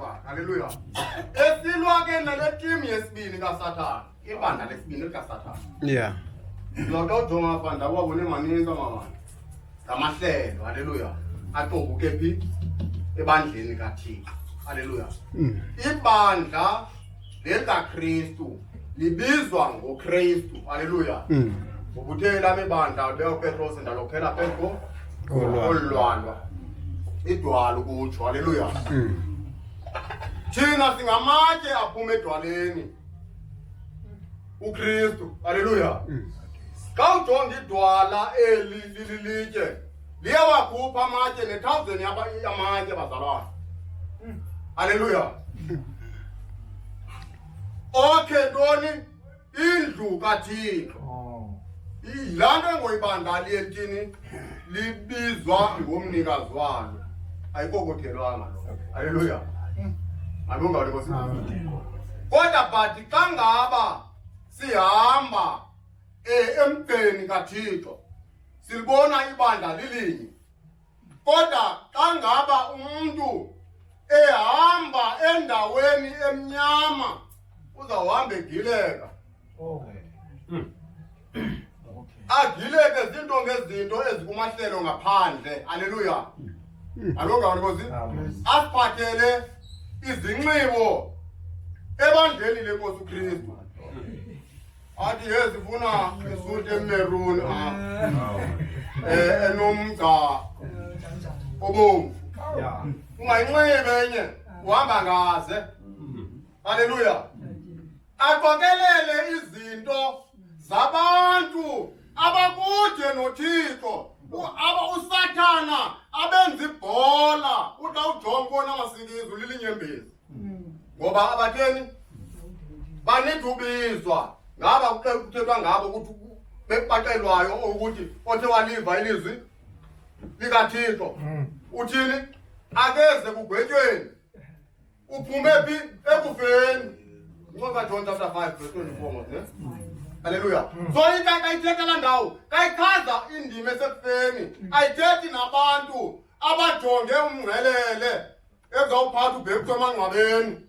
Haleluya. Esilwa ke nale team yesibini kaSathana. Ibandla lesibini likaSathana. Yeah. Loko ujonga bandla wabone maninzi amabandla. Ngamahlelo. Haleluya. Aqobuke phi? Ebandleni kaThixo. Haleluya. Ibandla lelikaKristu libizwa ngoKristu aleluya mm. ngokuthe lami bandla beopetrosi ndalokhela phezu kolulwandwa idwala ukutsho aleluya mm. thina singamatye aphuma edwaleni uKristu aleluya mm. xa ujonga idwala eli lililitye Liye wakhupha amatye nethawuzeni yamatye bazalwana. Hmm. Haleluya. Okhe ntoni indlu kaThixo. Oh. Yilaa nto engoyibandali entini libizwa ngomnikazi walo. Ayikokothelwanga lo. Haleluya. Hmm. Alungawuli Nkosi. Kodwa but xa ngaba sihamba eh emgceni kaThixo silibona ibandla lilinye kodwa xa ngaba umntu ehamba endaweni emnyama uzawuhamba egileka oh. hmm. agileke zinto ngezinto ezikumahlelo ngaphandle aleluya hmm. alongani kozi asiphathele izinxibo ebandleni lenkosi ukristu athi yezifuna isuti emeruni apha eh, enomgca obomvu ungayinxibe enye uhamba ngaze halleluya aqokelele izinto zabantu abakude nothixo aba usathana abenza ibhola uxa ujonga ubona amasingizi ulilinyembezi ngoba abatheni banidubizwa ngaba kuthethwa ngabo ukuthi bekubaxelwayo ukuthi othe waliva ilizwi likathixo hmm. uthini akeze kugwetyweni uphume phi ekufeni ncwaba john chapter 5 verse 24 mos ne halleluya hmm. so into kayithetha la ndawo kayichaza indima esekufeni hmm. ayithethi nabantu abajonge umngcelele ezawuphatha ubhekuthiwa emangcwabeni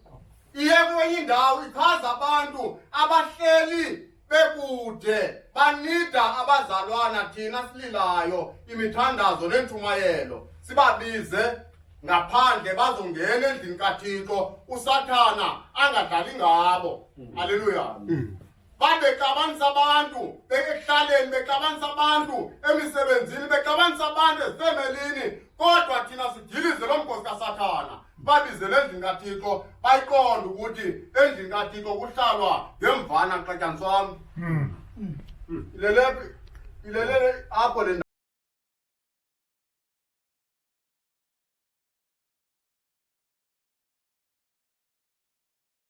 iye kwenye indawo ichaza abantu abahleli bekude banida abazalwana thina sililayo imithandazo neentshumayelo sibabize ngaphandle bazongena endlini kathixo usathana angadlali ngabo hmm. aleluya hmm. bexabanisa abantu ekuhlaleni bexabanisa abantu emisebenzini bexabanisa abantu ezifemelini kodwa thina sidilize lo mgosi kasathana babizele endlini kathixo bayiqonde ukuthi endlini kathixo kuhlalwa ngemvana xatyaniswa wam hmm. hmm. ilelephi ilelele apho le